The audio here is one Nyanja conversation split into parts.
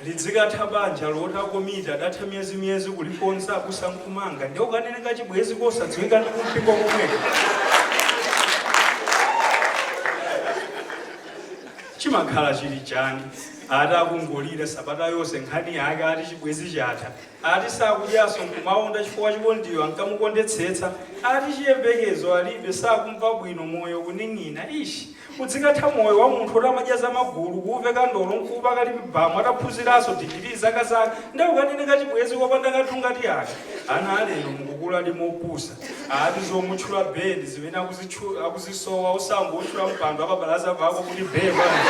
lidzikatha banja loti akomiti adatha miyezi miyezi kulikonza kusankumanga ndiye ukanene kachibwezi kosadziwika ndi kumpingo komweko chimakhala chili chani ati akungolira sabata yonse nkhani yake ati chibwezi chatha Ati sakudyaso nkumaonda chifukwa chikondiyo ankamukondetsetsa. Ati chiyembekezo alibe sakumva bwino moyo kuning'ina eish udzikatha moyo wa munthu oti amadya za magulu kuuveka ndolo nkuupaka lipi bam ataphunziranso digili zaka zaka nde ukanene kachibwezi kopanda kanthu ngati aka ana alero mukukuladi mopusa ati zomutchula bee ndizimene akuzisowa osangowutchula mpando wapabalaza pako kuti bee bwanji.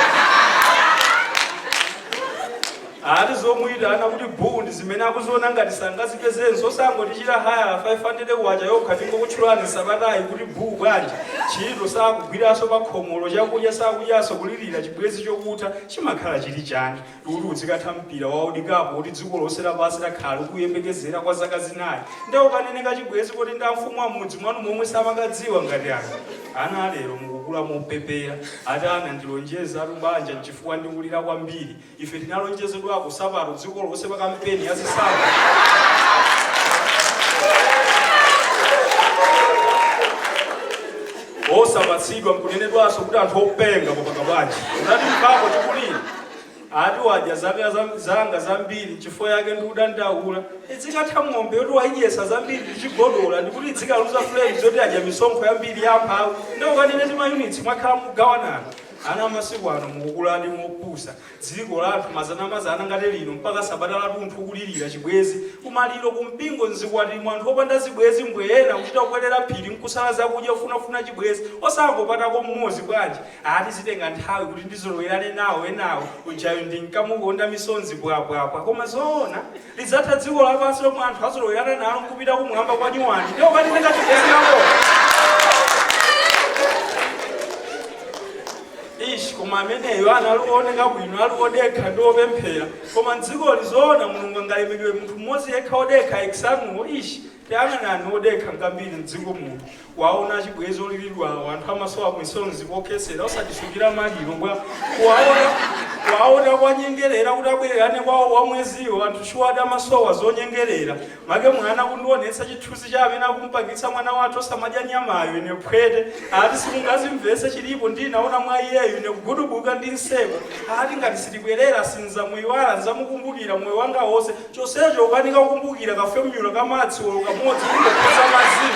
Ati zomuitana kuti buu ndi zimene akuziona ngati sangazipezenso, osangotichita hayala K500 yokha tingokutchulani sabatayi kuti buu bwanji? Ntchito sakugwiranso pakhomolo, chakudya sakudyanso kulilira chibwenzi chokutha chimakhala chili chani? Kuti udzikatha mpira wa World Cup woti dziko lonse lapansi lakhala likuuyembekezera kwa zaka zinayi nde ukanene kachibwenzi koti ndi amfumu ammudzi mwanu momwe samakadziwa ngati aka? Ana a lero mukukula mopepera, ati anandilonjezatu banja nchifukwa ndikulira kwambiri. Ife tinalonjezedwako sapato dziko lonse pa kampeni ya zisankho. Osapatsidwa mkunenedwanso kuti anthu openga popanga bwanji. Unatimvako tikulira ati wadya zanga zambiri chifukwa yake ndikudandaula idzikatha ng'ombe yoti wayidyesa zambiri ndichigodola ndikuti idzikaluza flames yoti adya misonkho yambiri yamphawi nde ukanene timayunitsi mwakhala mugawanana Ana amasiku ano mukukuladi mopusa, dziko lathu mazanamazana ngati lino mpaka sabata latunthu kulilira chibwezi, kumaliro, kumpingo, mzikwatimo anthu opanda zibwezi mbwee ena kuchita kukwelera phiri mkusala zakudya kufunafuna chibwezi osangopatako mmodzi bwanji ati zitenga nthawi kuti ndizolowerane nawo enawo ujayo ndinkamukonda misonzi bwabwabwa koma zoona? Lidzatha dziko lapansi lomwe anthu azolowerana nalo n'kupita kumwamba kwa nyuwani nde ukanene kachibwenzi kako. Ish, koma ameneyo anali wooneka bwino, ali wodekha ndi wopemphera. Koma m'dzikoli zoona Mulungu angalemekeze munthu mmodzi yekha wodekha ex anuwo. Ish, Tayang'anani odekha ngambiri mdziko muno, kuwaona achibwezi oliridwawo, anthu amasowa misonzi pokhesera osatisungira maliro bwa? Kuwaona kuwanyengerera kuti abwererane kwawo wa mweziwo, anthu shuwadi amasowa zonyengerera. Make mwana kundionetsa chithuzi cha amene akumupangitsa mwana wathu osamadya nyamayo, ine phwete, ati simungazimvese chilipo ndinaona mwa iyeyu, ine kugudubuka ndi nseko, ati ngati sitibwerera sinzamuiwala, nzamukumbukira moyo wanga wonse. chonsecho ukanika kukumbukira ka formula ka maths olo kamodzi kungopeza mazii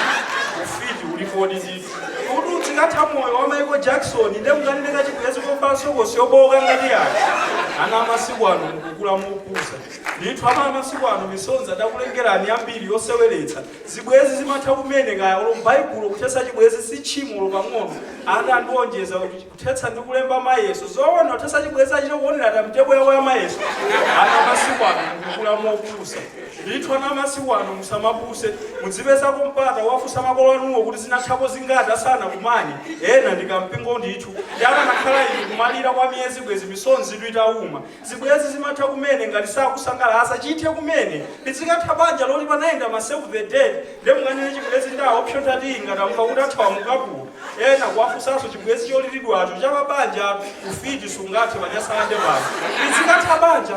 ufiti ulipodi ndithu kuti udzikathera moyo wa michael jackson nde mukanene kachibwezi kovala sokosi yobooka ngati yake ana amasiku ano mukukula mopusa ndithu ana amasiku ano misonzi adakulengerani yambiri yoseweretsa zibwezi zimatha kumene kaya olo m'baibulo kuthetsa chibwezi si tchimo olo pang'ono ati andiwonjeza kuti Kuthetsa ndi kulemba mayeso. Zoona kuthetsa chibwezi achite kuonera timetable yawo ya mayeso? Ana amasiku ano mukukula mopusa. Ndithu ana amasiku ano musamapuse. Mudzipezako mpata owafunsa makolo anuwo kuti zinathako zingati asanakumane? Ena ndi kampingo ndithu. Ndiye akanakhala iwo kumalira kwa miyezi bwezi misonzitu itauma. Zibwezi zimatha kumene ngati sakusangalatsa chithe kumene lidzikatha banja loti panayenda ma save the date nde mukanene chibwezi nda option ati ngati amva kuti athawa mu ukapolo ena kuwafunsanso chibwezi cholilidwacho cha pa banjatu ufiti sungathe pa nyasalande pano lidzikatha banja